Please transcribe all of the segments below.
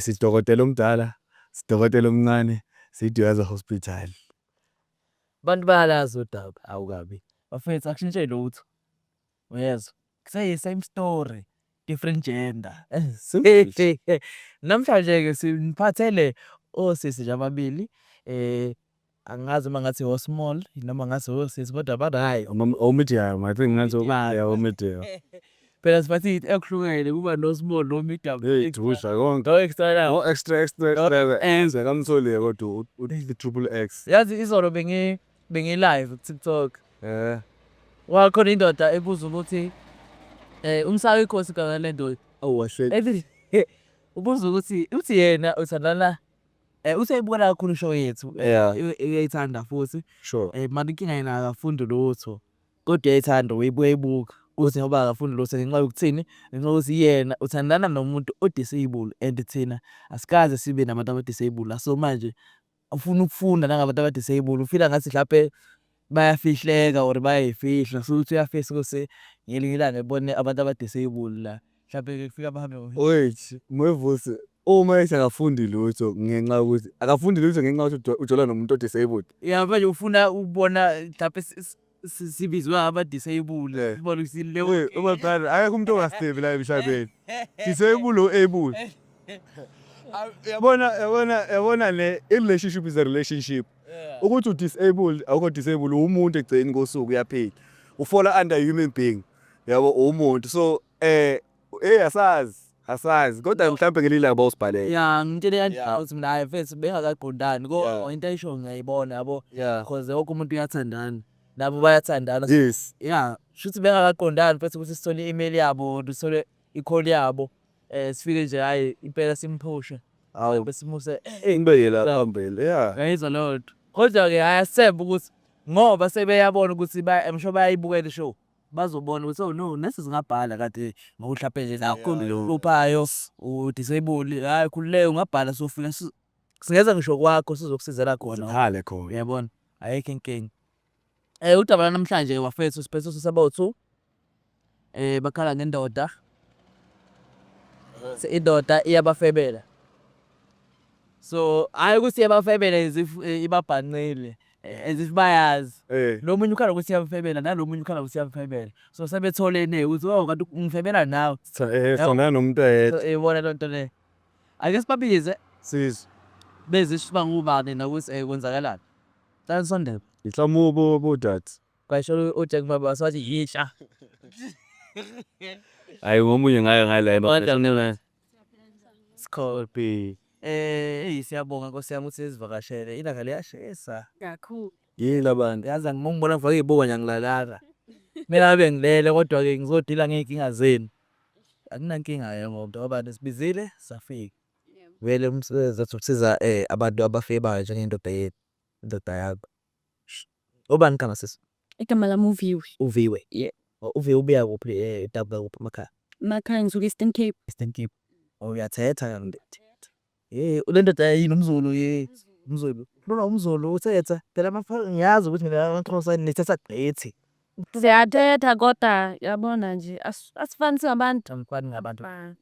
Sidokotela omdala, sidokotela omncane, siDweza Hospital. Abantu bayalazi udaba. Awu kabi. Bafethu akushintshe lutho. Uyezwa? Kuseyi same story, different gender. Namhlanje-ke siniphathele osisi nje ababili Angazi noma ngathi o small noma ngathi o sisi kodwa ba right. O medium I think ngathi yeah o medium. Phela sibathi it ekuhlukene kuba no small no medium. Hey dusha konke. No extra la. No extra extra extra. Enze kamtholiye kodwa u triple X. Yazi izolo bengi bengi live ku TikTok. Eh. Wakhona indoda ebuza ukuthi eh umsayi inkosi kanalento. Awu wahle. Ubuza ukuthi uthi yena uthandana Eh useyibukela kakhulu show yethu. Yeah. Eh, Uyayithanda futhi. Sure. Eh manje inkinga yena akafundi lutho. Kodwa uyayithanda uyibuye ibuka. Uthi ngoba akafundi lutho ngenxa yokuthini? Ngenxa yokuthi yena uthandana nomuntu o-disable and thina asikaze sibe nabantu aba-disable la. So manje ufuna ukufunda nangabantu aba-disable. Ufila ngathi mhlampe bayafihleka or bayayifihla so ukuthi uyafisa ukuthi ngelinye ilanga ebone abantu abadisable la mhlawumbe ke kufika bahambe wait mwevusi uma ethi akafundi lutho ngenxa yokuthi akafundi lutho ngenxa yokuthi ujola nomuntu odisabled yeah manje ufuna ukubona mhlawumbe sibizwa abadisabled eh. sibona ukuthi le uma qala akekho umuntu ongasebi la emhlabeni disabled o able yabona yabona yabona ne relationship is a relationship ukuthi udisabled awukho disabled uwumuntu egcini kosuku uyaphila ufola under human being yabo uwumuntu so eh eh asazi asazi kodwa mhlawumbe ngelinye ilanga bawusibhalele ya ngitshele Yeah. yandawuthi mina hayi mfethu bengakaqondani ko Yeah. into ayisho ngiyayibona yabo yeah cause wonke umuntu uyathandana nabo bayathandana yes ya shuthi bengakaqondani mfethu ukuthi sithole i-email yabo sithole i-call yabo Eh sifike nje hayi impela simphushe. Hawu besimuse eh ngibe yela phambili. Yeah. Ngayizwa lodwa. Kodwa ke haya sebe ukuthi ngoba sebeyabona ukuthi ba emsho bayayibukela ishow. Bazobona ukuthi oh no nesi zingabhala kade ngokuhlaphele la kuhluphayo u disable hayi khululeka ungabhala sofika singeza ngisho kwakho sizokusizela khona. Sikhale khona. Uyabona? Ayikho inkinga. Eh udaba lanamhlanje wafethu siphethe sisebothu. Eh bakhala ngendoda. Se indoda iyabafebela. So hayi ukuthi iyabafebela as if eh, ibabhanqile eh, as if bayazi. Eh. Lo munye ukhala ukuthi iyamfebela nalo munye ukhala ukuthi iyamfebela. So sebetholene ukuthi oh kanti ungifebela nawe. Cha, eh, Yabo. sona nomuntu oyedwa So ibona lento le. Ake sibabize sizwe bezisho uba ngubani nokuthi eh kwenzakalani. Cela nisondele. Ngihloma ubudade. Kwayisholo uJack Mababa wathi yintsha. Hayi ngomunye ngaye ngaye la ema. Kodwa ngene. Scorpi. Eh siyabonga Nkosi yami ukuthi sizivakashele. Ilanga liyashisa. Kakhulu. Yini labantu? Yazi angimongibona ngifake izibuko nje angilalanga. Mina ngabe ngilele kodwa ke ngizodila ngeyinkinga zenu. Akunankinga ke ngoba ngoba nisibizile safika. Vele umsebenzi wethu ukusiza abantu abafike bayo njengendoda yethu. Indoda yakho. Obani igama sisi? Igama lami uViwe. Uviwe. Yeah. Oh, Uviwe ubuya kuphi eh edabuka kuphi emakhaya? Emakhaya ngisuka Eastern Cape. Eastern Cape. Oh uyathetha ke ndoda. Hey, le ndoda yini umZulu hey. UmZulu. Khuluma umZulu uthetha. Phela amafa- ngiyazi ukuthi nina amaXhosa nithetha gqithi. Siyathetha kodwa yabona nje as- asifani singabantu. Angifani ngabantu. Ba-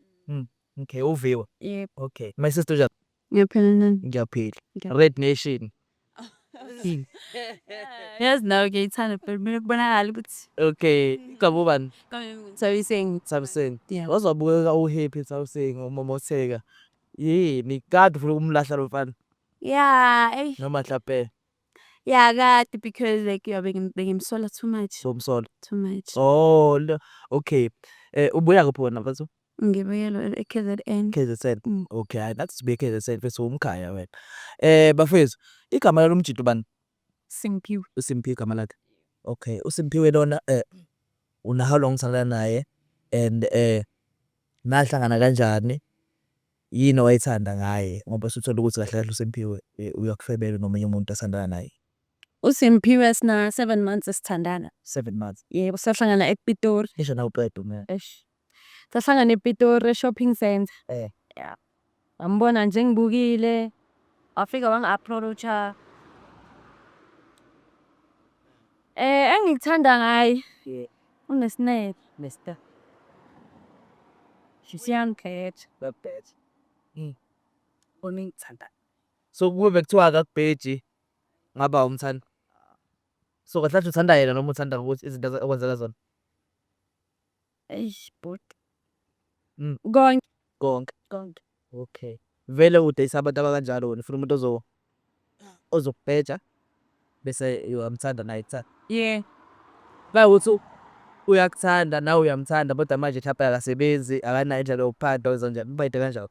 Okay, uViwe. Yebo. Okay. My sister uja Ngiyaphila nani? Ngiyaphila. Red Nation. Yazi nawe ngiyayithanda phela kumele kubonakale ukuthi Okay, igama ubani? Thabiseni. Thabiseni. Yeah. Waze wabukeka uhappy Thabiseni ngokumomotheka. Yini? Kade ufuna ukumlahla lo mfana Yeah, ey. noma mhlampe Yeah, kade because like yeah, bengi- bengimsola too much. somsola. Too much. Oh, lo- okay. Eh ubuya kuphi wena mfana? Ngibuyelwe eKZN. KZN. Mm. Okay, hayi nathi sibuye KZN mfethu umkhaya wena. Eh bafethu, igama lalo mjito bani? Simphiwe. USimphiwe igama lakhe. Okay, uSimphiwe lona eh una how long sala naye and eh nahlangana kanjani? Yini owayithanda ngaye ngoba suthola ukuthi kahle kahle uSimphiwe eh, uyakufebela nomunye umuntu asandana naye. USimphiwe sina 7 months esithandana. 7 months. Yebo, sahlangana ePitori. Ngisho nawe uqeda umyeni. Eish. Sahlangana ePitori e-shopping centre. Eh. Yeah. Ngambona nje ngibukile. Wafika wangi-approacha. Eh, engikuthanda ngaye Yeah. unesineke. Mister. Siyangikhetha. Babheje. Mm. Bona engikuthanda. So kube bekuthiwa akakubheji ngaba umthanda. So kahle kahle uthanda yena noma uthanda ukuthi izinto aze- okwenzeka zona? Eish bhuti. Mm. Konke. Konke. Konke. Okay. Vele udayisa abantu abakanjalo wena ufuna umuntu ozo ozokubheja bese uyamthanda naye kuthanda. Yeah. Bakuthi uyakuthanda nawe uyamthanda kodwa manje mhlawumbe akasebenzi akanayo indlela yokuphanda wenza njani ubayide kanjalo.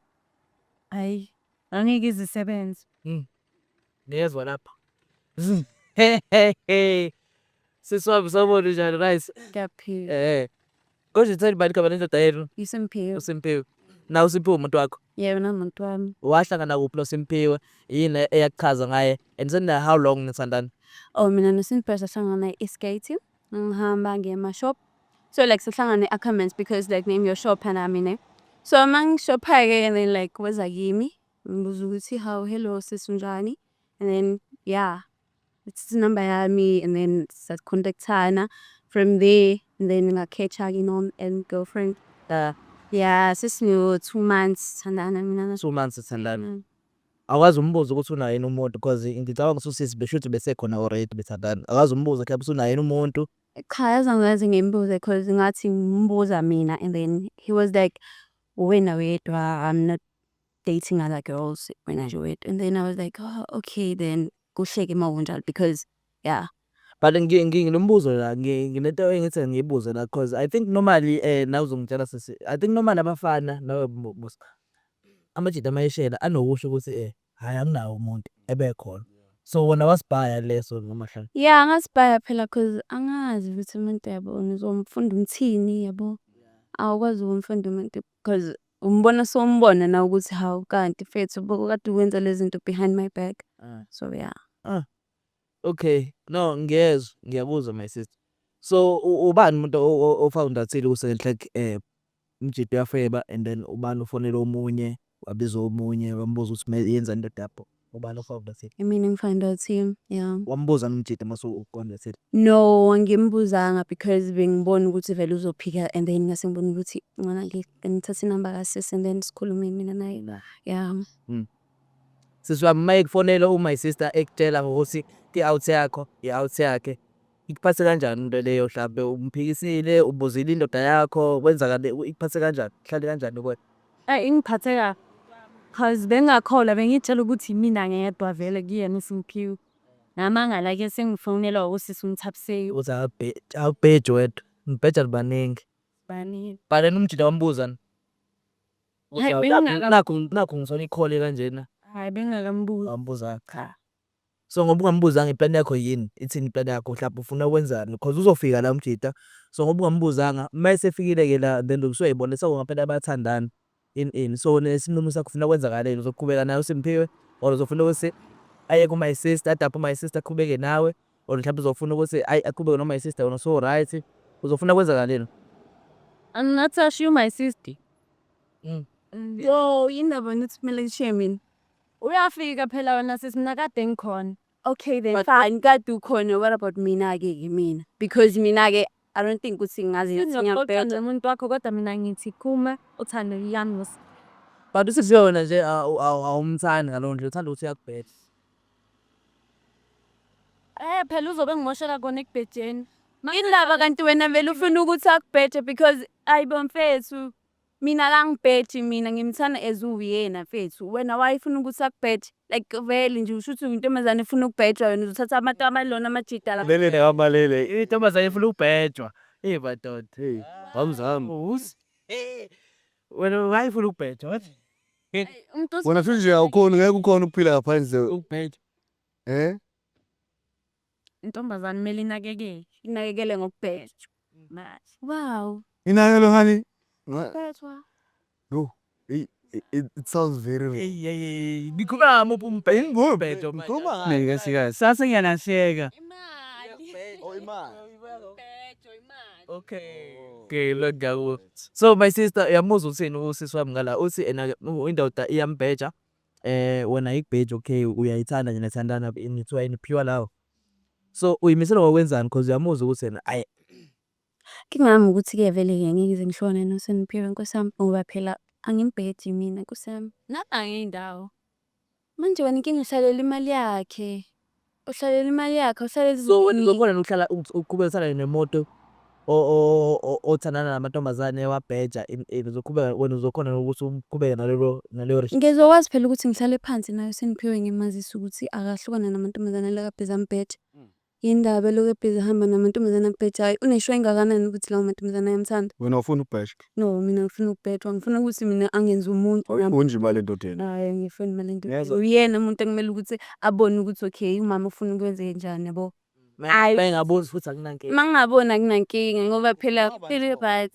Hayi. Angeke izisebenze. Mm. Ngezwa lapha. Siswami sawubona njani rice? Ngiyaphila. Eh. Kodwa uthanda ubani igama lendoda yenu? Isimpiwe. USimpiwe. Na uSimpiwe umuntu wakho? Yebo namuntu wami. Wahlangana kuphi noSimpiwe? Yini eyakuchaza ngaye? And sen how long nithandana? Oh mina noSimpiwe sahlangana e-skating. Ngihamba ngiye ema-shop. So like sahlangana e-Ackermans because like name your shop and I mean. So uma ngishopha-ke and then like weza kimi. Ngibuza ukuthi how hello sis unjani and then yeah it's number yami and then sacontactana from there and then ngakhetha ke nom and girlfriend Yeah. yeah sesino two months sithandana mina na- two months sithandana Mm. akwazi umbuza ukuthi unaye yini umuntu because ngicabanga ukuthi usisi besho ukuthi besekhona already bethandana akwazi umbuza ukuthi yabe usunaye yini umuntu cha yazi angaze ngimbuze cause ngathi ngimbuza mina and then he was like uwena wedwa i'm not dating other girls when I do it. And then I was like, oh, okay, then go shake him out because, yeah. But ngi- ngi- nginombuzo la ngi- nginento engithi ngiyibuze la cause I think normally eh nawe uzongitshela sisi I think normally abafana nawe bu- busa amajita amayeshela anokusho ukuthi eh hayi anginawo umuntu ebekhona so wona wasibhaya leso noma hlala Yeah, angasibhaya phela because angazi ukuthi umuntu yabo ngizomfunda umthini yabo. Awukwazi ukumfunda umuntu Cos umbona sombona na ukuthi hawu kanti mfethu boko kade ukwenza lezinto behind my back. Ah. So yeah. Ah. Okay. No ngiyezwa ngiyakuzwa my sister. So ubani umuntu ofounder athile ku Second Track eh umjita uyafeba and then ubani ufonela omunye wabiza omunye wambuza ukuthi yenzani into yakho. Ubani ofaka uBlasir? Imina engifaka intatheli, yeah. Wambuza uMjita mase ufaka uBlasir? No, angimbuzanga because bengibona ukuthi vele uzophika and then ngase ngibona ukuthi ngona ngi- ngithathe inamba kasisi and then sikhulume mina naye la. Yeah. Sisi wami uma ekufonela u-my sister ekutshela ngokuthi i-out yakho i-out yakhe, Ikuphathe kanjani into leyo hlampe umphikisile ubuzile indoda yakho kwenzakale ikuphathe kanjani hlale kanjani kuwena Ay ingiphathe kabi. Cause bengingakholwa bengiyitshela ukuthi yimina ngedwa vele kuyena uSimphiwe. Ngamangala ke sengifonelwa usisi uMthabiseki. uthi akabhe- akubheji wedwa nibheja nibaningi Bani? bhaleni umjita wambuza ni Hhayi, bengingaka- nakhu nakhu ngithole ikhole kanjena Hhayi bengingakambuzi. wambuza cha. So ngoba ungambuzanga i plan yakho yin ithini plan yakho mhlawumbe ufuna ukwenzani cause uzofika la umjita so ngoba ungambuzanga uma esefikile ke la then usuyoyibona so ngampela bayathandana in in so nesinqumo sakho ufuna kwenzakaleni uzoqhubeka naye uSimphiwe or uzofuna ukuthi aye ku my sister adaphe my sister aqhubeke nawe or mhlawumbe uzofuna ukuthi ayi aqhubeke no my sister wena so right uzofuna kwenzakaleni angingathi ashiye u my sister yo yini ndaba nithi kumele ngishiye mina Uyafika phela wena sisi mina kade ngikhona. Okay then But- fine kade ukhona what about mina ke ke mina because mina ke I don't think ukuthi ngazi ukuthi Uzoxoxa ngiyabheda. nomuntu wakho kodwa mina ngithi kuma uthando yami ngosi. But usisi yona nje awu- awu- awumthandi ngalowo nje uthanda ukuthi uyakubheda. Eh phela uzobe ngimoshela kona ekubhejeni. Indaba kanti wena vele ufuna ukuthi akubhede because ayibo mfethu Mina akangibheji mina ngimthanda as uwuyena mfethu wena why ufuna ukuthi akubheje like vele nje usho ukuthi uyintombazane efuna ukubhejwa wena uzothatha abantu abalona amajita la Lele nekamalele. Intombazane ifuna ukubhejwa. Hey madoda. Hey, hamzam. Uzi. Wena why ufuna ukubhejwa? What? Ay, umuntu os- Wena futhi nje awukhoni ngeke ukhona ukuphila ngaphandle ukubhejwa. eh Intombazane kumele inakekele. Inakekele ngokubhejwa. Manje. Wow. Inakelo honey. Bethwa. No. It, it, it sounds very wrong. Hey, hey, hey. Ngikhuluma muphi umbhedo? Umbhedo. Ngikhuluma. Ngeke sikazi. Sase ngiyalahleka. Imali. Oh, imali. Umbhedo, imali. Okay. Okay, lo ndawo. So my sister uyamuzwa uthini usisi wami ngala uthi ena indoda iyambheja. Eh wena igbage okay uyayithanda nje nethandana ini kuthiwa ini pure love. So uyimisela ngokwenzani because uyamuzwa ukuthi yena ay Inkinga yami ukuthi ke vele ke ngeke ngize ngishone noSeniphiwe Nkosi yami ngoba phela angimbhedi mina Nkosi yami. Nami angiyindawo. Manje wena inkinga uhlalela imali yakhe. Uhlalele imali yakhe uhlalele So wena uzokhona yini ukuhlala uth- uqhubeke uhlala nemoto o- o- o- o- othandana namantombazane ewabheja in in uzoqhubeka wena uzokhona yini ukuthi uqhubeke nalelo naleyo resh. Ngizokwazi phela ukuthi ngihlale phansi nayo sengiphiwe ngimazise ukuthi akahlukane namantombazane alokhu abhizi ambheja. Yini ndaba elokhu ebhizi ehamba namantombazane ambhejayo? Uneshwa engakanani ukuthi lawo mantombazane ayamthanda? Wena awufuni ukubhejwa. No, mina ngifuna ukubhedwa. Ngifuna ukuthi mina angenze umuntu. Oy- Unje imali endodeni. Hayi, ngifuni imali endodeni. Ngezwa. Uyena umuntu ekumele ukuthi abone ukuthi okay, umama ufuna ukwenze njani yabo. Ayi. Bengaboni futhi akunankinga. Uma ngingaboni akunankinga ngoba phela phela right.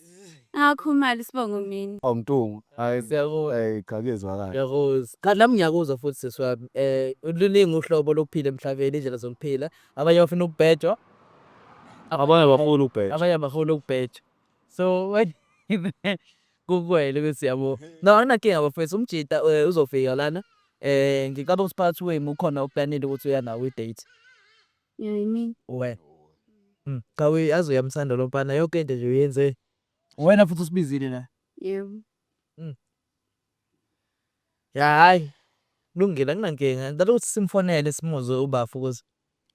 Ngakho imali sibongo mina. Awu mtungu. Hayi. Siyakuzwa. Hey, cha kuyezwakala. Ngiyakuzwa. Kanti nami ngiyakuzwa futhi sisi wami. Eh luningi uhlobo lokuphila emhlabeni, indlela zokuphila. Abanye bafuna ukubhejwa, Abanye bafuna ukubheka. abanye abafuni ukubhejwa. so wena kukwele ukuthi yabo no anginakinga bafethu umjita eh, uzofika lana eh ngicabanga ukuthi phakathi wenu ukhona uplanile ukuthi uya nawo i-date Yeah, I mean, wena Mm, cha we aze uyamthanda lo mfana yonke into nje uyenze wena futhi usibizile la yeah. ya hayi kulungile anginankinga ngicela ukuthi simfonele simuze ubafo ukuthi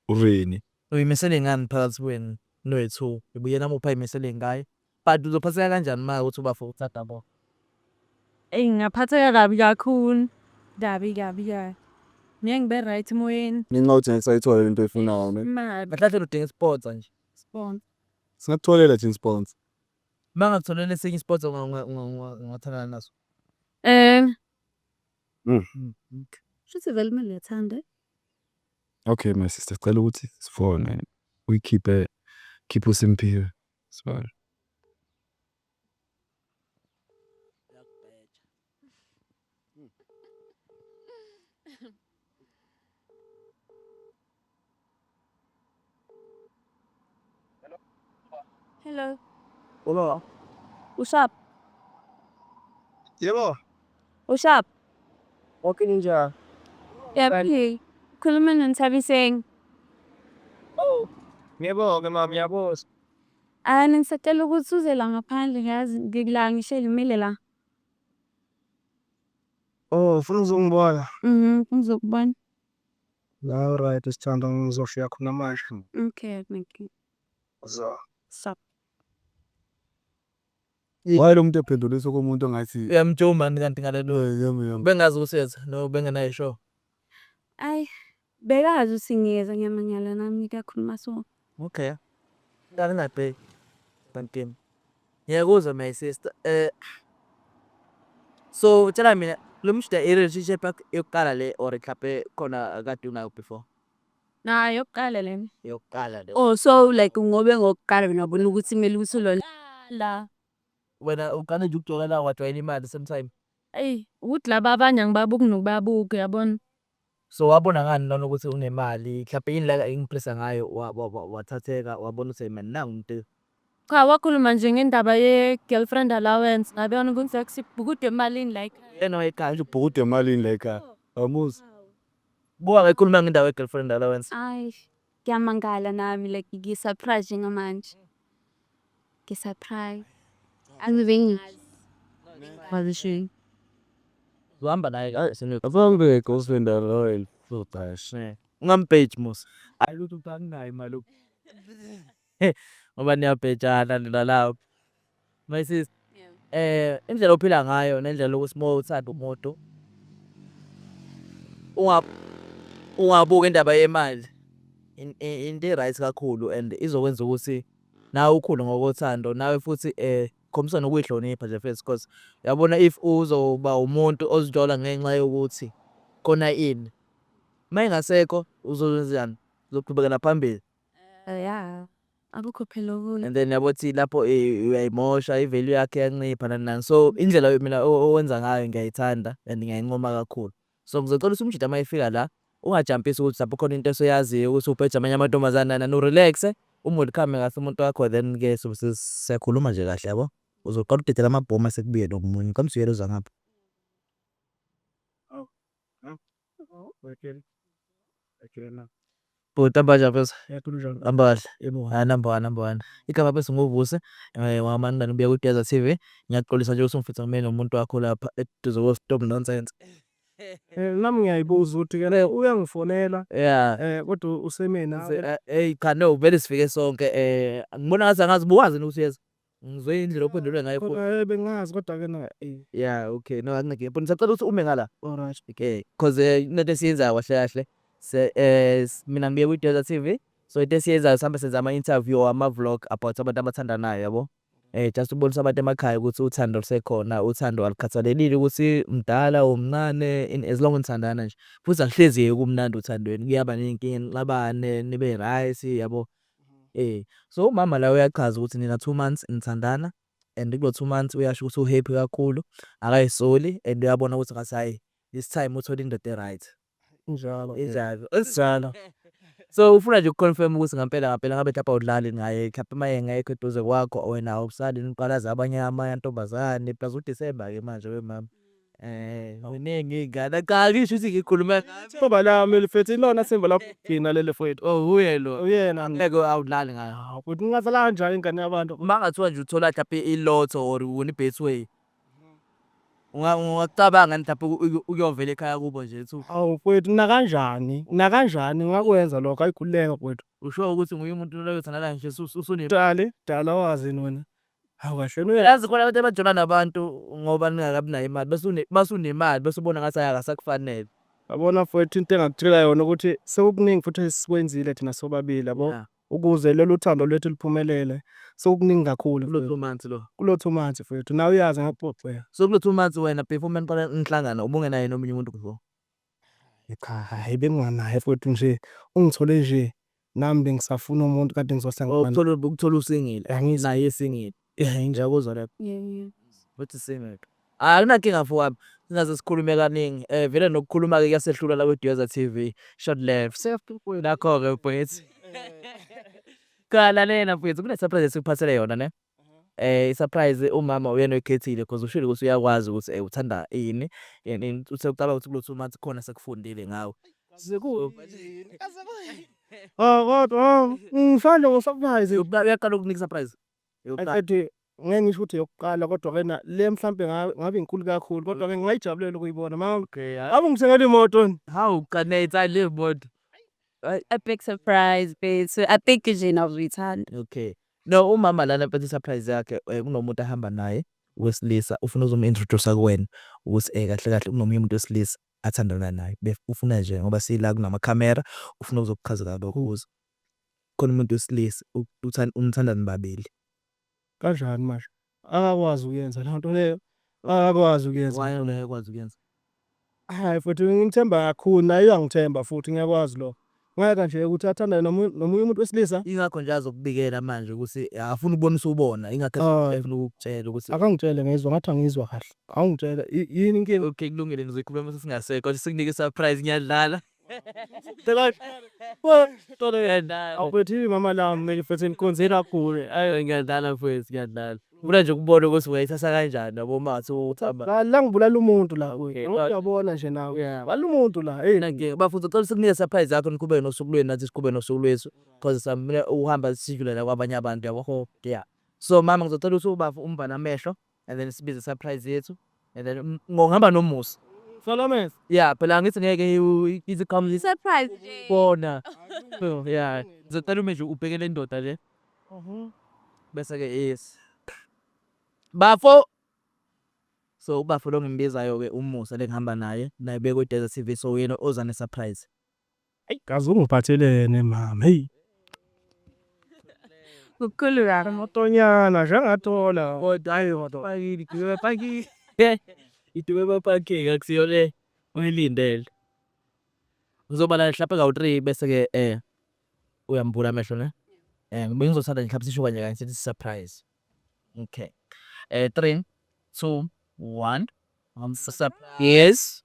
urini. Uyimisele ngani phakathi kwenu noyi two ngoba uyena muphi ayimisele ngaye but uzophatheka kanjani uma uthi ubafo uthada bo. Eyi ngingaphatheka kabi kakhulu kabi kabi kabi ngeke ngibe right emoyeni. Ngenxa yokuthi ngeke sayithola lento oyifunayo ne. Imali. Kahle kahle udinga isponsa nje. Sponsor. Singakutholela thina isponsa. Uma ngakutholela esinye isponsa ungathandana naso? Ehh. Shuthi vele kumele uyathanda. Okay my sister sicela ukuthi sifone uyikhiphe khiphe uSimphiwe sibale. Hello. Hello. What's up? Hello. What's up? Okay ninja. Yeah, Right. please. Kuluman ng sabi saying, Oh. Ngiyabonga mama, ngiyabonga. ah, ngisacela ukuthi uze la ngaphandle ngazi ngikula ngisho elimile la. Oh, ufuna uzongibona. Mhm, ngizokubona. Nawe right sithando ngizoshiya khona manje. Okay, thank you. Zo. Stop. Waye lo muntu ephendulisa komuntu ongathi Uyamjoma mani kanti ngalelo. "Eh, yami yami. Bengazi ukuthi uyeza no bengenayo ishow. Ayi, bekazi ukuthi ngiyeza ngiyamangala nami kakhuluma so. Okay ngani ngabheki kantim ngiyakuzwa my sister eh so tshela mina lo mshida i relationship yakho yokuqala le or mhlawumbe khona kade unayo before Na yokuqala lena. yokuqala le Oh so like ngobe ngokuqala wena wabona ukuthi kumele ukuthi ulolala. wena uqale nje ukujokela wajwayela imali same time Eyi ukuthi laba abanye angibabuki nokubabuka uyabona. So wabona ngani lona ukuthi unemali mhlampe yini la impressa ngayo wathatheka wabona ukuthi hey man nangu umuntu Cha wakhuluma nje ngendaba ye girlfriend allowance ngabona ukuthi like sibhukuda emalini la ekhaya. Uyena owayeqala. Sibhukuda emalini la ekhaya. Awumuzwa. Buka ke ekhuluma ngendawo ye girlfriend allowance. Ay Ngiyamangala nami like ngisurprise njengamanje. Ngisurprise. Angibe ngazi. Wazishini. Uhamba naye ka senu. Abambe girlfriend alone. Udashe. Ungampage musa. Ayilutho uphanginayo imali. ngoba niyabhejana nina lapho my sister eh indlela ophila ngayo nendlela ukuthi uma uthanda umuntu unga ungabuka indaba yemali In- i- into e-right kakhulu and izokwenza ukuthi nawe ukhule ngokothando nawe futhi um khombisa nokuyihlonipha nje first because uyabona if uzoba umuntu ozithola ngenxa yokuthi khona ini uma engasekho uzokwenzenjani uzoqhubekela phambili ya akukho phela okunye and then yabo thi lapho eh, uyayimosha ivalue yakhe yancipha nani nani so indlela yo- mina o- owenza ngayo ngiyayithanda and ngiyayincoma kakhulu so ngizocela ukuthi umjita uma efika la ungajampisi ukuthi lapho khona into esoyaziyo ukuthi ubheja amanye amantombazane nani nani urelaxe umwelcome kahle umuntu wakho then ke sobe se- siyakhuluma nje kahle yabo uzoqala udedela amabhomu asekubuye nomunye kamsuyelo zangapha Bhuti hamba kanjani mfethu? Hamba kahle. Hayi number one number one. Igama mfethu nguVusi eh wamanqina ubuya kwiGeza TV. Ngiyaxolisa nje ukuthi ngifitha ngime nomuntu wakho lapha eduze ko stop nonsense. Eh nami ngiyayibuza ukuthi ke le uyangifonela Yeah. eh kodwa usemina. Hey cha no vele sifike sonke eh ngibona ngathi angazi buwazi yini ukuthi uyeza. Ngizwe indlela ophendulwe ngayo futhi. Kodwa eh, bengazi kodwa ke na eh. Yeah, okay. No, akunankinga. But ngisacela ukuthi ume ngala. Alright. Okay. Cause eh, kunento esiyenzayo kahle kahle. Se eh s- mina ngibuye kwi Desert TV. So into esiyenzayo sihambe senza ama interview ama vlog about abantu abathandanayo yabo. Eh just ukubonisa abantu emakhaya ukuthi uthando lusekhona, uthando alukhathalelile ukuthi mdala or mncane in as long nithandana nje. Futhi akuhlezi kumnandi uthandweni. Kuyaba nezinkinga nixabane, nibe right yabo. Eh so umama la uyachaza ukuthi nina two months nithandana and kulo two months uyasho ukuthi uhappy kakhulu akayisoli and uyabona ukuthi ngathi hhayi this time uthole indoda e-right Njalo. injalo esinjalo so ufuna nje ukuconfirm ukuthi ngampela ngampela ngabe mhlawumbe awudlali naye mhlawumbe uma engekho eduze kwakho wena awusali niqalaza abanye amantombazane plus udisemba-ke manje wemama Eh, ziningi iy'ngane. Cha, angisho ukuthi ngikhulume ngazo. Thumba lami elifethu ilona thimba lakugcina leli fwethu. Oh, uye lo. Uyena. Ngeke awudlali ngayo. Hawu, futhi ngingadlala kanjani ingane yabantu? Uma kungathiwa nje uthola mhlampe i-lotto or win i-betway, unga- ungakucabanga yini mhlampe uku- uku- ukuyovela ekhaya kubo nje uthi u- Hawu, fwethu nakanjani, nakanjani ngingakwenza lokho, ayi khululeka fwethu. usho ukuthi nguye umuntu loyo othandana nje usu- usune Dali, dala wazi yini wena? Hawu kahle wena uyazi khona abantu abajola nabantu ngoba ningakabi nayo imali bese une mase unemali bese ubona ngathi akasakufanele. Yabona mfwethu into engakutshela yona ukuthi sekukuningi futhi esikwenzile thina sobabili yabo Yeah. ukuze lolu thando lwethu luphumelele sekukuningi kakhulu Kulo two months lo. kulo two months mfwethu nawe uyazi ngakuxoxela. So kulo two months wena before uma niqala nihlangana ubungenaye nomunye umuntu before? Cha hhayi benginganaye mfwethu nje ungithole nje nami bengisafuna umuntu kade ngizohlangana naye. Ukuthola usingile naye esingile inja kuzwa le uthi single. Hhayi akunankinga mfowami singaze sikhulume kaningi vele nokukhuluma-ke kuyasehlula la kwiDweza TV short life nakho-ke mfwethu. Cha lalela mfwethu kune-surprise esikuphasele yona ne. Eh surprise umama uyena oyikhethile because ushilo ukuthi uyakwazi ukuthi eh uthanda ini and uthe ucabanga ukuthi kulo two months khona sekufundile ngawe. Sekuyini? Kaze kuyini? Oh kodwa ngifana ngo surprise. Yokuqala uyaqala ukunika surprise. Yokuqala. Ethi ngeke ngisho ukuthi yokuqala kodwa ke na le mhlambe ngabe inkulu kakhulu kodwa ke ngingayijabulela ukuyibona mama. Okay. Awu ngithengele imoto ni. Hawu qanetha le moto. A big surprise bethu. I think nje nawe uzoyithanda. Okay. No umama lana mpetha isurprise yakhe kunomuntu ahamba naye wesilisa ufuna uzomu introducer kuwena ukuthi eh kahle kahle kunomunye umuntu wesilisa athandana naye bef ufuna nje ngoba sila kunama camera ufuna ukuzokuchazela lokho ukuthi khona umuntu wesilisa uthanda umthanda nibabili Kanjani manje? Akakwazi ukuyenza leyo nto leyo. Akakwazi ukuyenza. Why yona ayikwazi ukuyenza? Hayi futhi ngimthemba kakhulu naye uyangithemba futhi ngiyakwazi lo. Ngeke nje ukuthi athandane nomunye nomunye umuntu wesilisa. Ingakho nje azokubikela manje ukuthi afuna ukubona usubona ingakho Hayi. efuna ukukutshela ukuthi Akangitshele ngizwa ngathi angizwa kahle. Awungitshele i- yini inkinga? Okay kulungile ngizoyikhuluma mase singasekho. Sikunike surprise ngiyadlala. awuphethiwe mama lami kumele futhi nikonzela kakhulu ayi ngiyadlala mfowethu ngiyadlala funa nje ukubona ukuthi ungayithatha kanjani yabo uma ngathi uthamba la la ngibulala umuntu la kuye uyabona nje nawe Yeah. bala umuntu la hey Nake bafuthu cela sikunike surprise yakho niqhubeke nosuku lwenu nathi siqhubeke nosuku lwethu because samele uhamba sijule la kwabanye abantu yabo yeah so mama ngizocela ukuthi ubafu umvale amehlo and then sibize surprise yethu and then um, ngihamba nomusa Solomons. yeah phela angithi ngeke iwu- ithi come this Surprise nje. bona so yeah ngizocela ume nje ubheke le ndoda le bese ke yes bafo so ubafo lo ngimbizayo ke umusa lengihamba naye naye bekwe desert tv so uyena oza ne surprise Ayi kazi ungiphathelene mama hey. Kukhulu kabi. Amatonyana jangathola kodwa hayi kodwa pakile dube pakile. Idube bapakile akusiyo le oyilindele. Ngizoba la hlaphe kawu 3 bese ke eh uyambula amehlo ne. Eh ngibe ngizothanda nje hlaphe sisho kanye kanye sithi surprise. Okay. Eh 3 2 1 Yes.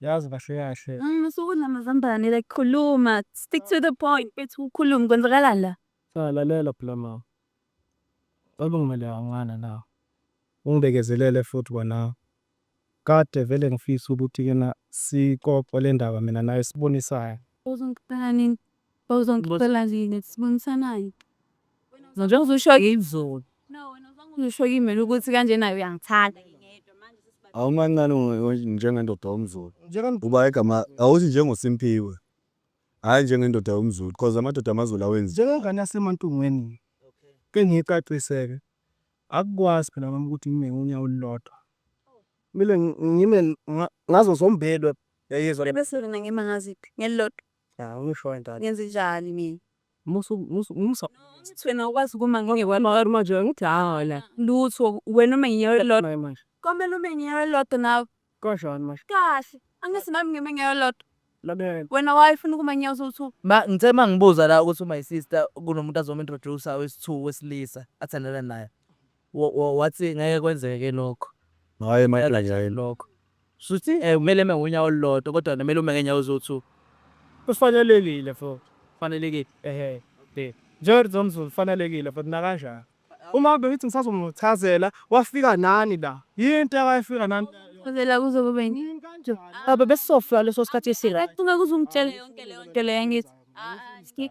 Yazi kahle kahle. Mm, usuku namazambane like khuluma. Stick to the point. Bethi ukhuluma kwenzakalani la? Cha lalela phela mama. Baba ngimele kancane la. Ungibekezelele futhi kona. Kade vele ngifisa ukuthi kena sixoxe le ndaba mina naye sibonisane. Uzongiqala nini? Bawuzongixolalini sibonisanani? Njengoba uzusho izolo. Uzusho kimi mina ukuthi kanje naye uyangithanda. Awumancane njengendoda yomZulu. Uba igama awuthi njengoSimphiwe. Hhayi njengendoda yomZulu because amadoda amaZulu awenzi. Njengengane yaseMantungweni ke ngicacise-ke. Akukwazi phela mama ukuthi ngime ngonyawo olulodwa. Kumele ngime ngazo zombelwe. Uyayizwa? Bese wena ngima ngaziphi? Ngelilodwa? ngenzenjani mina musa musa Uthi wena ukwazi ukuma ngeke kwalona manje wena uthi hawona lutho wena uma nginyaka elilodwa nawe manje komele ume nginyaka elilodwa nawe kanjani manje kahle angithi nami ngime nginyaka elilodwa lalela wena wayefuna ukuma nginyaka sowu-two Ma ngithe mangibuza la ukuthi my sister kunomuntu azom introduce wesi-two wesilisa athandana naye. Wathi ngeke kwenzeke lokho. Hhayi impela nje hhayi lokho. Shuthi kumele eme ngonyawo olulodwa kodwa kumele ume ngenyawo eziwu-two. Kufanelekile futhi. Kufanelekile. Ehhe. Njengethi zomzulu kufanelekile futhi nakanjani. Uma bengithi ngisazomuchazela wafika nani la? Yini into ayefika nani la? Chazela kuze kube yini? Baba besizofika leso sikhathi esi-right. Ufuna kuze ungitshele yonke leyonto leyo angithi? Hhayi.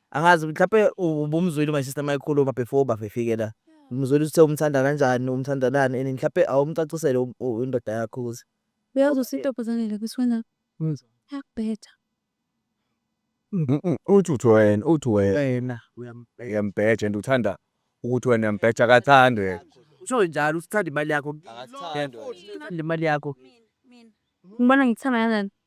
Angazi mhlampe ubumzwile uma sister mayikhuluma before bafefike la. Umzwile uthe umthanda kanjani, umthandanani and mhlampe awumcacisele indoda yakho ukuthi. Uyazi usintombazane la kusiwenza yakubhetha. Uthi uthi wena, uthi wena uyambheja and uthanda ukuthi wena uyambheja akathandi wena. Usho njalo usithanda imali yakho. Imali yakho. Ngibona ngithanda kanjani?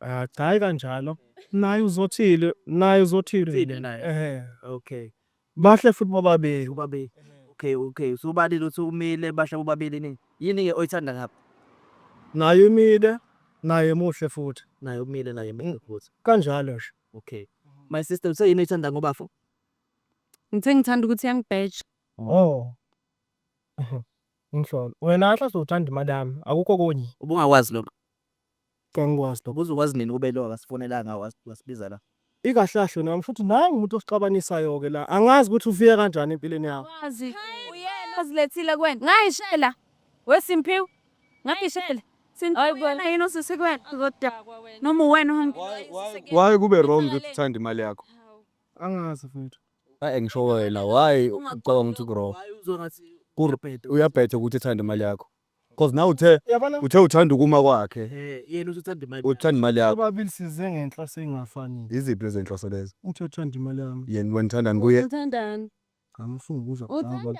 Ah, cha hayi kanjalo. Naye uzothile, naye uzothile. Thile naye. Ehhe. Okay. Bahle futhi bobabili. Ubabili. Okay, okay. So ubalile uthi umile bahle bobabili nini? Yini ke oyithanda ngabo? Naye umile, naye muhle futhi. Naye umile naye muhle futhi. Kanjalo nje. Okay. My sister uthe yini oyithanda ngobafo? Ngithe ngithanda ukuthi yangibheja. Oh. Ngisholo. Wena ahla sothanda imali yami. Akukho konye. Ubungakwazi lokho. Kangikwazi lokho uzokwazi nini ukube lo akasifonelanga wasibiza la. Ikahlahle nami futhi nangu umuntu osixabanisayo ke la angazi ukuthi ufike kanjani empilweni yakho. Wazi uyena ozilethile kuwena ngayishela we Simphiwe ngayishela Simphiwe uyena yini osisi kuwena uzodakwa wena noma uwena uhambile Why kube wrong ukuthi uthanda imali yakho. Angazi mfethu. Ay engisho wena why ucabanga ukuthi ku wrong. Why uzwa ngathi uyabhetha ukuthi uthanda imali yakho. Cause nawe uthe Yabona? uthe uthanda ukuma kwakhe, Eh, yena uthi uthanda imali. uthanda imali yakho. Sobabili size ngenhloso ey'ngafani. Yiziphi lezo zinhloso lezo? Uthi uthanda imali yami. Yena wena uthandani kuye? Uthandani? Ngami ufuna ukuzwa kuqala. Uthandani?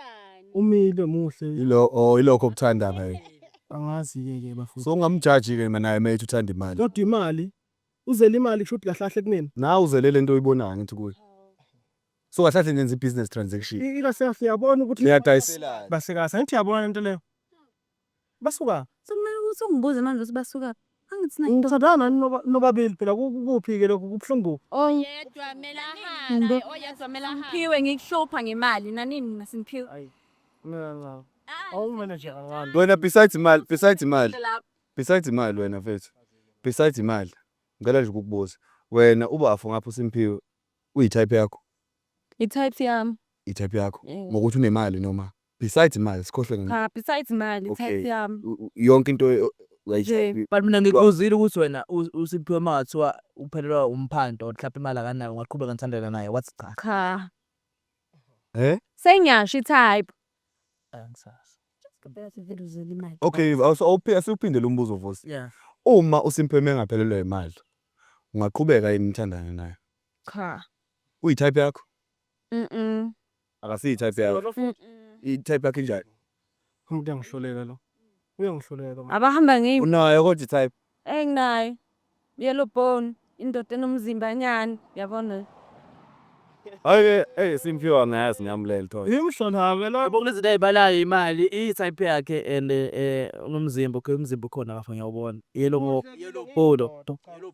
Umile muhle. Yilo oh ilokho okuthanda ngaye. Angazi-ke ke bafowethu. So ungamjaji ke ma naye methi uthanda imali. Kodwa imali. Uzele imali kusho ukuthi kahle kahle kunina. Nawe uzele lento oyibonayo ngithi kuye. So kahlale nenza i-business transaction. I- Ikasefu yabona ukuthi Niyadayiselana. basikazi angithi yabona lento leyo. Basuka. Sekumele ukuthi ungibuze manje ukuthi basuka. Angithi nayo. Ngithandana nani noba- nobabili phela ku- ku- kuphi ke lokhu kubuhlungu. Oyedwa mele ahambe, oyedwa mele ahambe. Phiwe ngikuhlupha ngemali nanini mina simphiwe. Ayi. Mina ngicabanga. Awumenenje kancane. Wena besides imali, besides imali. Besides imali wena mfethu. Besides imali. Ngicela nje ukukubuza. Wena ubafo ngapha uSimphiwe Uyi type yakho? I type yami. I type yakho. Yebo. Ngokuthi unemali noma besides imali sikhohlwe nge. Cha besides imali i type Okay. yami. u- u- yonke into e- o- uyayi Nje. type. But mina ngikuzile ukuthi wena u- uSiphiwe uma kungathiwa uphelelwa umphanto or mhlawumbe imali akanayo ungaqhubeka nithandana naye what's cha. Cha. He? Sengiyasho i type. Okay, asiwuphindele umbuzo Vusi. Yeah. Uma uSimphiwe engaphelelwa imali, ungaqhubeka yini nithandane naye? Cha. Uyi-type yakho? Mhm. Akasiyi-type yakho. I-type yakho injani? Umuntu uyangihluleka lo. Uyangihluleka. Abahamba ngeyim. Unayo kodwa i-type? Eyi nginayo yellow bone indoda enomzimba nyani yabona. Hayi eyi simphiwa ngayazi ngamlel toy. Yimi hlonhame la. Yabo kunezinto ayibalayo imali i type yakhe and unomzimba okay umzimba ukhona lapho ngiyawubona yellow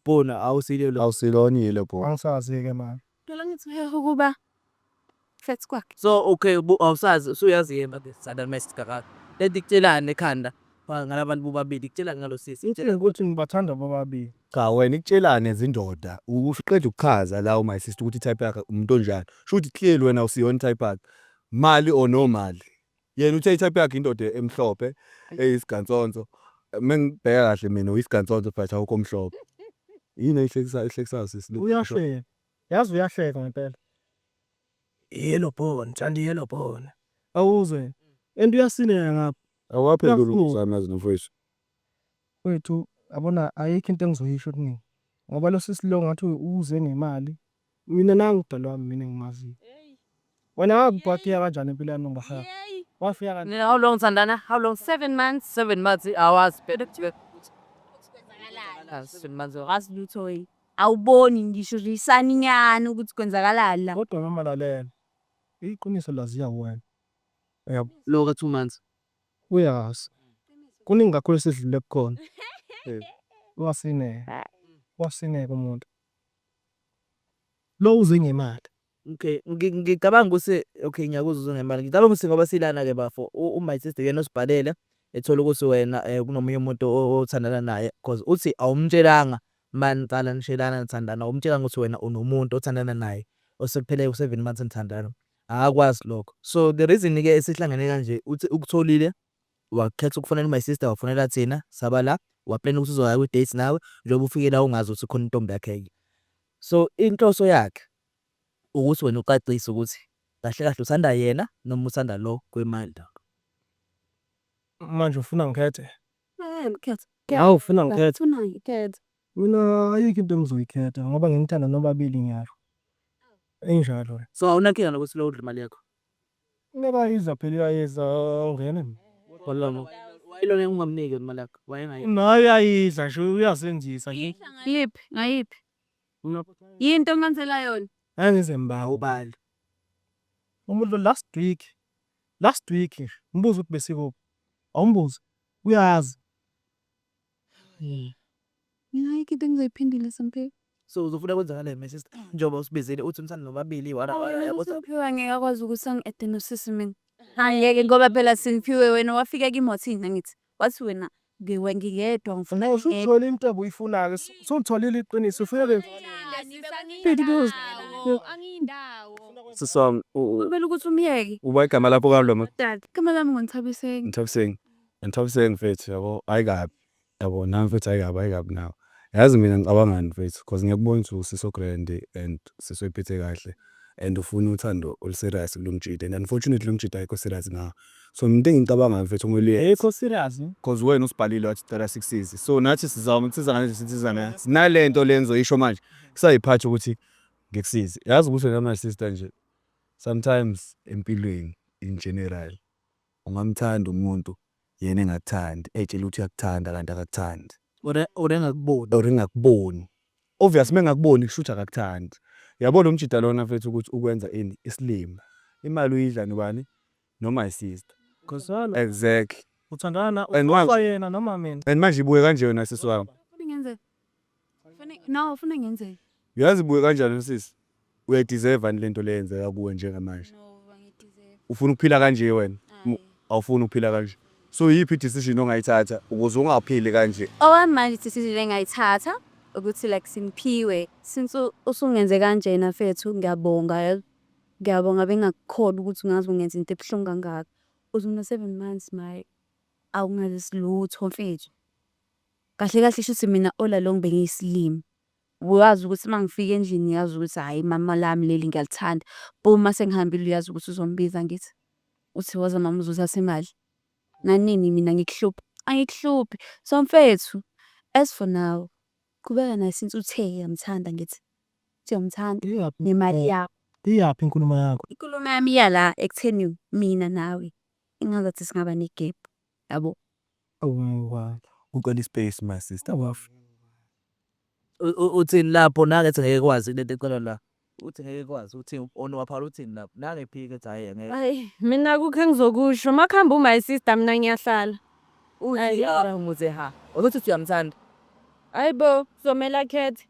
bone awusilo yellow bone. Awusilona i yellow bone. Angisazi ke mani. Ngicela ngithi uhehe ukuba flat kwakhe. So okay ubu- awusazi usuyazi yema ke sada mest kakaka. Lento ikutshelani ekhanda ba- ngalabantu bobabili ikutshelani ngalo sisi. Ngitshele ukuthi ngibathanda bobabili. Cha wena ikutshelane zindoda uqeda ukuchaza la my sister ukuthi type yakhe umuntu onjani shuthi clearly wena awusiyona type yakhe mali or no mali Yena uthe i-type yakhe indoda emhlophe eyisigansonso. Mengibheka kahle mina uyisigansonso but awukho omhlophe. Yini eyihlekisayo ehlekisayo sisi le? Uyahleka. Yazi uyahleka ngempela. Yellow bone, ngithanda yellow bone. Awuzwe and uyasineka ngapha. Awuwaphenduli umuzwa wami yazi nomfowethu. Mfwethu yabona ayikho into engizoyisho kuningi ngoba losisi lo ngathi uze ngemali. Mina nangu umdali wami mina engimaziyo. Wena wafika kanjani impilo yami ngibahaya? Wafika kanjani? How long Sandana? How long? Seven months. Seven months awazi phela ukuthi kwenzakalani. Seven months awazi lutho yini. Awuboni ngisho lisaninyana ukuthi kwenzakalani la. Kodwa mama lalela. Iqiniso laziya wena. Uyabo? Loka two months. Uyazi. Kuningi kakhulu esidlule kukhona. Wasineka. Wasineka umuntu. Lo uze ngemali. Okay. Ngicabanga ukuthi okay ngiyakuzwa uze ngemali. Ngicabanga ukuthi ngoba silana ke bafo u my sister uyena osibhalele ethola ukuthi wena kunomunye umuntu othandana naye because uthi awumtshelanga mani cala nishelana nithandana awumtshelanga ukuthi wena unomuntu othandana naye osekuphele u-7 months nithandana. Akwazi lokho so the reason ke esihlangene kanje uthi ukutholile wakhetha ukufonela my sister wafonela thina saba la waplan ukuthi uzoya kwi date nawe njengoba ufike la ungazi ukuthi khona intombi yakhe ke so inhloso yakhe ukuthi wena ucacise ukuthi kahle kahle uthanda yena noma uthanda lo kwemali la manje ufuna ngikhethe eh ngikhethe hawu ufuna ngikhethe ufuna ngikhethe Mina ayikho into engizoyikhetha ngoba nginithanda nobabili ngyasho injalo le. So awunankinga nokuthi lo udle imali yakho? Meka iza phela uyayidla awungene mina. Walona wayelona ungamniki yona imali yakho wayengayidli. Naye uyayidla nje uyazenzisa nje. Yiphi ngayiphi yini into oncansela yona? Angize ngibawe ubala umuntu lo last week last week nje mbuze ukuthi besikuphi awumbuze uyazi. Mina ayikho into engizoyiphendula Samphelo. So uzofuna kwenzakaleni my sister? Njengoba usibizile uthi umsana nomabili iwara yabo. Samphelo angeke akwazi ukuthi angi-ede nosisi mina. Angeke ngoba phela Simphiwe wena wafika kimi wathini nangithi? Wathi wena ngiwe ngingedwa ngifuna Nawe usuthola into obuyifuna-ke. Usutholile iqiniso. Ufuna ke Sisi wami u- u- Kumele ukuthi umyeke. uba igama lakho kalo ma- dad. Igama lami nguNthabiseng. Nthabiseng. Ngithabiseke mfethu yabo hayi kabi yabo nami mfethu hayi kabi hayi kabi nawe yazi mina ngicabangani mfethu cause ngiyakubona ukuthi usisi o-grand and usisi oyiphethe kahle and ufuna uthando olu-serious kulo mjita and unfortunately lo mjita ayikho serious ngawe so mina into engiyicabangayo mfethu kumele uye Ayikho serious no. cause wena usibhalile wathi ucela sikusize so nathi sizama ukusiza ngale sinsiza ngayo nale nto le engizoyisho manje kusayiphatha ukuthi ngikusize yazi ukuthi wena my sister nje sometimes empilweni in general Ungamthanda umuntu yena engakuthandi eytshele ukuthi uyakuthanda kanti akakuthandi. Or or engakuboni. Or engakuboni. Obvious mengakuboni kushuthi akakuthandi. Yabo lomjita lona mfethu ukuthi ukwenza ini isilima. Imali uyidla nobani? No my sister. Khuzani. Exactly. Uthandana na ufa yena noma mina. And manje ibuke kanje yona sisi wami. Into ebingenze No, ufuna ngenzeni? Uyazi buye kanjani sisi? Uyayideserve ani lento leyenzeka kuwe njengamanje? No, bangideserve. Ufuna ukuphila kanje wena? Hayi. Awufuni ukuphila kanje. So yiphi i-decision ongayithatha ukuze ungaphili kanje? Okwamanje decision engayithatha ukuthi like simphiwe since u- usungenze kanjena fethu ngiyabonga yazi. Ngiyabonga bengakukhona ukuthi ungaze ungenze into ebuhlungu kangaka. Uze uno-seven months maye awungazisi lutho mfethu. Kahle kahle shuthi mina all along bengiyisilima. Wazi ukuthi uma ngifika endlini ngiyazi ukuthi hhayi mama lami leli ngiyalithanda. Boom uma sengihambile uyazi ukuthi uzongibiza angithi? Uthi woza mama uzothatha imali. Nanini mina ngikuhluphe. Angikuhluphi. So mfethu, as for now, qhubeka naye since uthe uyamthanda ngithi. Uthi uyamthanda Iyaphi? nemali yakho. Iyaphi inkulumo yakho? Inkulumo yami iya la ekutheni mina nawe engazathi singaba negap. yabo. Ucela ispace my sister wafa. Uthini lapho nake ethi ngeke kwazi lento ecelwa la. Uthi ngeke kwazi uthi onu waphala uthini lapho. Nake ephika ethi hayi ngeke. Ay mina kukho engizokusho makuhamba u my sister mina ngiyahlala. Uthi yara umuze ha. Ukuthi uthi uyamthanda. Hayibo kuzomela akhethe.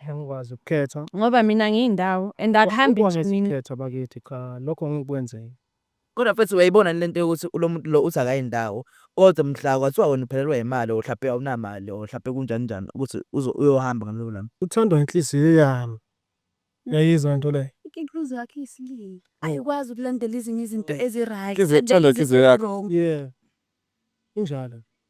Angikwazi ukukhetha. Ngoba mina ngiyindawo and akuhambi nje mina. Angikwazi ukukhetha bakithi cha lokho ngeke kwenzeke. Kodwa mfethu uyayibona yini lento yokuthi ulomuntu lo uthi akayi ndawo kodwa mhla kwathiwa wena uphelelwa yimali or hlampe awunamali or hlampe kunjani njani ukuthi uyohamba ngalelo langa. Uthandwa inhliziyo yami uyayizwa into le. Inhliziyo yakho iyisilima ayikwazi ukulandela ezinye izinto ezi right. Inhliziyo ethanda inhliziyo yakho. Yeah injalo.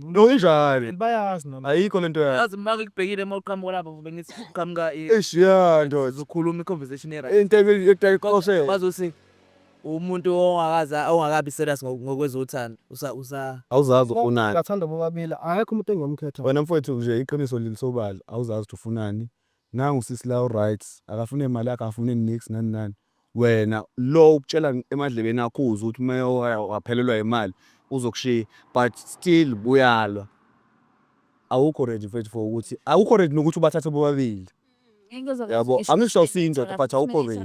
No injani? Bayazi noma. Ayikho lento yakho. Yazi maka ikubhekile uma uqhamuka lapho ngoba ngithi uqhamuka i Eish yeah ndoda. uzokhuluma i-conversation right. Into ekuthe qoshe. Bazothi umuntu ongakaza ongakabi serious ngo- ngokwezothando usa usa Awuzazi ufunani. Ngathanda bobabili akekho umuntu engiyomkhetha. Wena mfowethu nje iqiniso lilisobala awuzazi ukuthi ufunani. Nangu sisi la uryt akafune mali yakhe akafune nix nani nani wena lo ukutshela emadlebeni akho uzwe ukuthi mewaya waphelelwa imali uzokushiya but still buyalwa awukho ready mfethu for ukuthi awukho ready nokuthi ubathathe bobabili yabo angisho siyindoda but awukho ready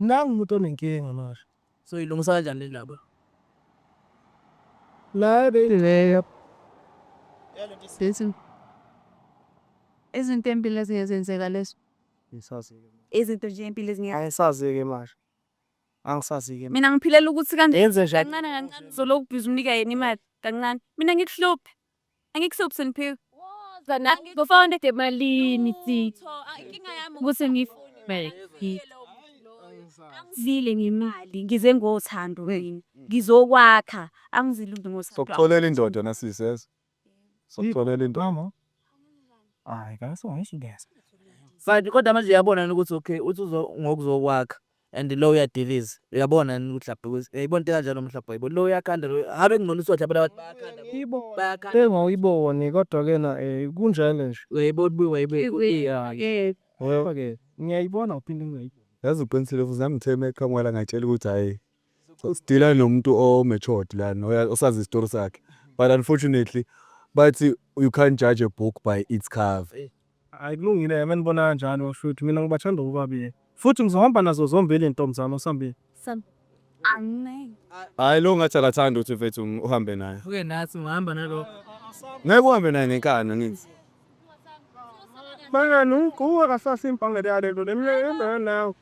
Nangu umuntu onenkinga manje. Soyilungisa kanjani le ndaba? Nayo beyileyo. Listen. Izinto empilo ezinye zenzeka lezo. Ngisazike. Izinto nje empilo ezinye. Angisazike manje. Angisazike. Mina ngiphilela ukuthi kanti Yenze njani? kancane kancane uzolokhu ubhizi umnika yena imali kancane. Mina ngikuhluphe. Angikuhluphi Siphiwe. Kana ngifuna into emalini sisi. Inkinga yami ukuthi ngifumele. Angizile ngemali ngize ngothando mina. Ngizokwakha angizile nje ngothando. Sokutholela indoda nasisi yes. Sokutholela indoda. Hayi kahle ngishingeza. Mfana kodwa manje yabona ukuthi okay uthi uzo ngokuzokwakha. And lo uyadiliza uyabona yini ukuthi lapho ukuthi yayibo into kanjalo mhlawumbe yayibo lo uyakhanda lo habe kungcono usotha phela abantu bayakhanda yibo bayakhanda engawuyiboni kodwa ke na eh kunjalo nje uyayibo ubuye wayibe yeah ngoba ke ngiyayibona uphinde ngiyayibona yazi uqinisile futhi nami ngithe meqhamuka la ngatshela ukuthi hayi So sidila nomuntu o matured lana osazi istory sakhe but unfortunately bathi you can't judge a book by its cover. Hayi kulungile ke menibona kanjalo shuthi mina ngibathanda bobabili futhi ngizohamba nazo zombili ntombi zami osambili. Sam. Amen. Hayi lo ngathi akathandi ukuthi mfethu uhambe naye. Uke nathi ngihamba nalo. Ngeke uhambe naye ngenkani ngithi. Bangani uqhuba kasasa impangele yalento lemle nawe.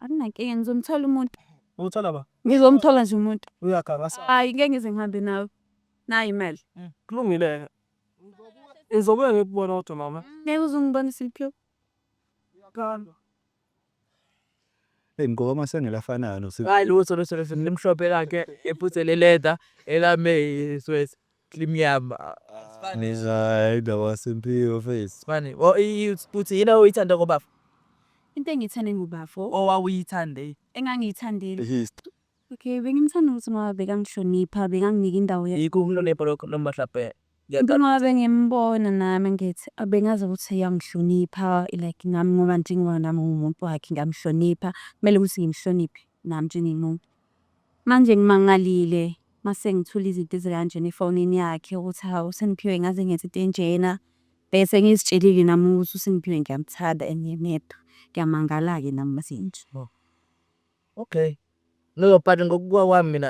Anginankinga ngizomthola umuntu. Uthola ba? Ngizomthola nje umuntu. Uyaganga sa. Hayi ngeke ngize ngihambe nawe. Nayi imali. Kulungile-ke. Ngizobuya ngikubona kodwa mama. Ngeke uze ungibone Simphiwe. Uyaganga. Hey mgoba amasengela afanayo no. Hayi lutho lutho lutho limhlophe lakhe ephuthe le leather elame iswesi. Team yami. Nizwa indaba yaSimphiwe mfethu. Mani, o i- uthi yini oyithanda ngobafo? Into engiyithande ngobafo Owawuyithande. engangiyithandile. History. Okay, bengimthanda ukuthi ngoba bekangihlonipha, bekanginika indawo yakhe. Yikho ukunonipha lokho noma mhlawumbe Into ngoba bengimbona nami ngithi abengazi ukuthi uyangihlonipha like nami ngoba njengoba nami ngiwumuntu wakhe ngiyamhlonipha, kumele ukuthi ngimhloniphe nami njengomuntu. Manje ngimangalile mase ngithula izinto ezikanjena efonini yakhe ukuthi hawu uSimphiwe ngaze ngenze into enjena bese ngizitshelile nami ukuthi uSimphiwe ngiyamthanda and nginedwa ngiyamangala-ke nami mase nje. Okay no but ngokubuka kwami mina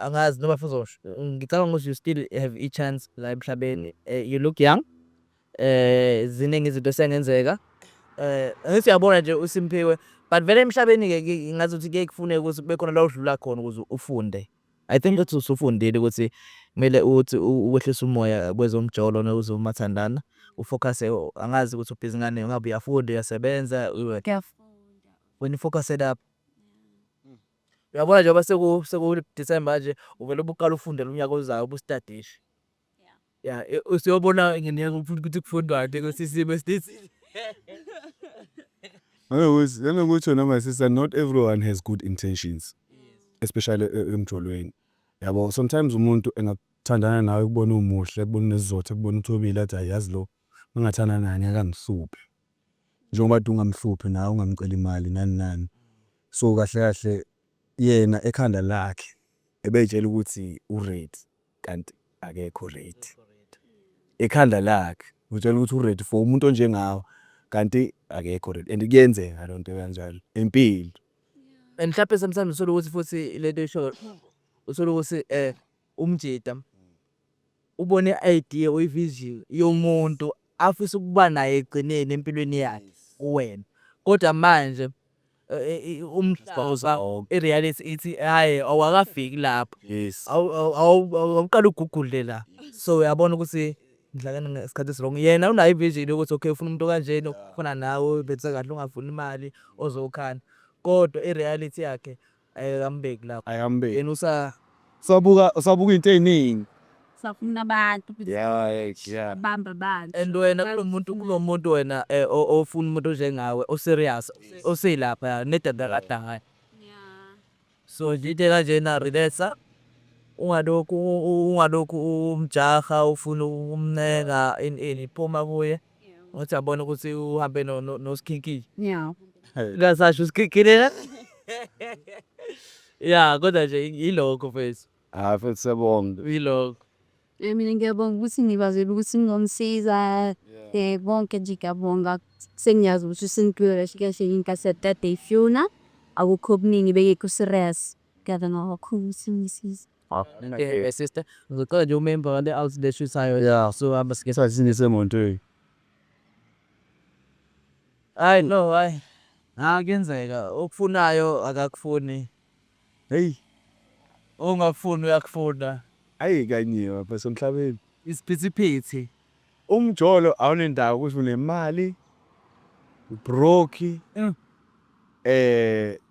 angazi noma futhi uzosho ngicabanga ukuthi you still have ichance la emhlabeni you look young Ziningi izinto esengenzeka. Ngithi uyabona nje uSimphiwe but vele emhlabeni-ke ngazuthi kuye kufuneke ukuthi kube khona la udlula khona ukuze ufunde. I think ukuthi usufundile ukuthi kumele uthi ukwehlisa umoya kwezomjolo nozomathandana ufokhase angazi ukuthi ubhizi ngani ngabe uyafunda uyasebenza wena ufokhase lapho. Uyabona njengoba seku-December nje uvele ubuqale ufundele unyaka ozayo ubustadishe. ya e, usiyobona ngenyanga ukuthi kufundwani kusisimo esithile Angakuthi angakuthi wena my sister not everyone has good intentions especially e- emjolweni yabo sometimes umuntu engathandana nawe kubona umuhle kubona unesizotha kubona uthobile athi hayi yazi lo mangathanda naye ngeke angihluphe njengoba kade ungamhluphi nawe ungamceli imali nani nani so kahle kahle yena ekhanda lakhe ebeyitshela ukuthi uready kanti akekho ready ekhanda lakhe utshela ukuthi uready for umuntu onjengawe kanti akekho ready and kuyenzeka loo nto kanjalo empilo and mhlawumbe sometimes uthole ukuthi futhi lento isho uthole ukuthi um eh, umjita ubone i-idea or i-vision yomuntu afisa ukuba naye ekugcineni empilweni yakhe kuwena kodwa manje umhlaza ireality ithi hayi awakafiki lapho yes awuqala ugugule la so uyabona ukuthi ngidlakana ngesikhathi esirongo yena unayo ivision yokuthi okay ufuna umuntu kanjena ufuna nawe bese kahle ungafuni imali ozokhanda kodwa ireality yakhe ayikambeki lapho ayikambeki yena usa Sabuka sabuka into eziningi. Safuna abantu ukuthi Yeah, yeah. bamba abantu. and wena kulomuntu kulomuntu wena eh, o- ofuna umuntu onjengawe oserious oseyilapha ya nedadakadahayi Yeah. so nje into ekanjena relaxa ungalokhu u- u- ungalokhu umjaha ufuna ukumncenga ini ini phuma kuye Wathi abona ukuthi uhambe no- no- nosikhinkili Yeah. ngasasho usikhinkili la ya kodwa nje yilokho mfethu Hayi futhi siyabonga. yilokho Eh, mina ngiyabonga ukuthi ngibazele ukuthi ngizomsiza eh konke nje ngiyabonga sengiyazi ukuthi usengiphilo kahle kahle inkathi yadade ifuna akukho okuningi bengekho serious ngiyabonga kakhulu ukuthi ngisiza sister ngicela nje umemba wale out le shuthayo yeah so hamba sike sasini semontweni hayi no hayi akenzeka okufunayo akakufuni hey ongakufuni uyakufuna ayi kanye baba somhlabeni isiphithiphithi umjolo awunendawo ukuthi unemali broke mm. eh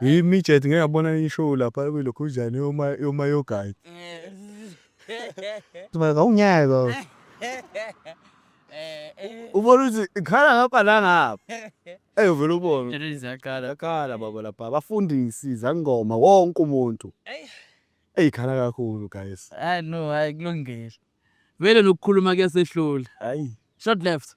Hi midget ngeke abona ishow lapha kwilokhuzane yoma yoma yogayi. Sibeka unyaka. Ubona ukuthi ikhala ngapha la ngapha. Ey uvela ubona. Ziyaqala. Yakhala baba lapha abafundisi zangoma wonke umuntu. Ey ikhala kakhulu guys. Hayi no hayi kulungile. Vele nokukhuluma kuyasehlula. Hayi. Short left.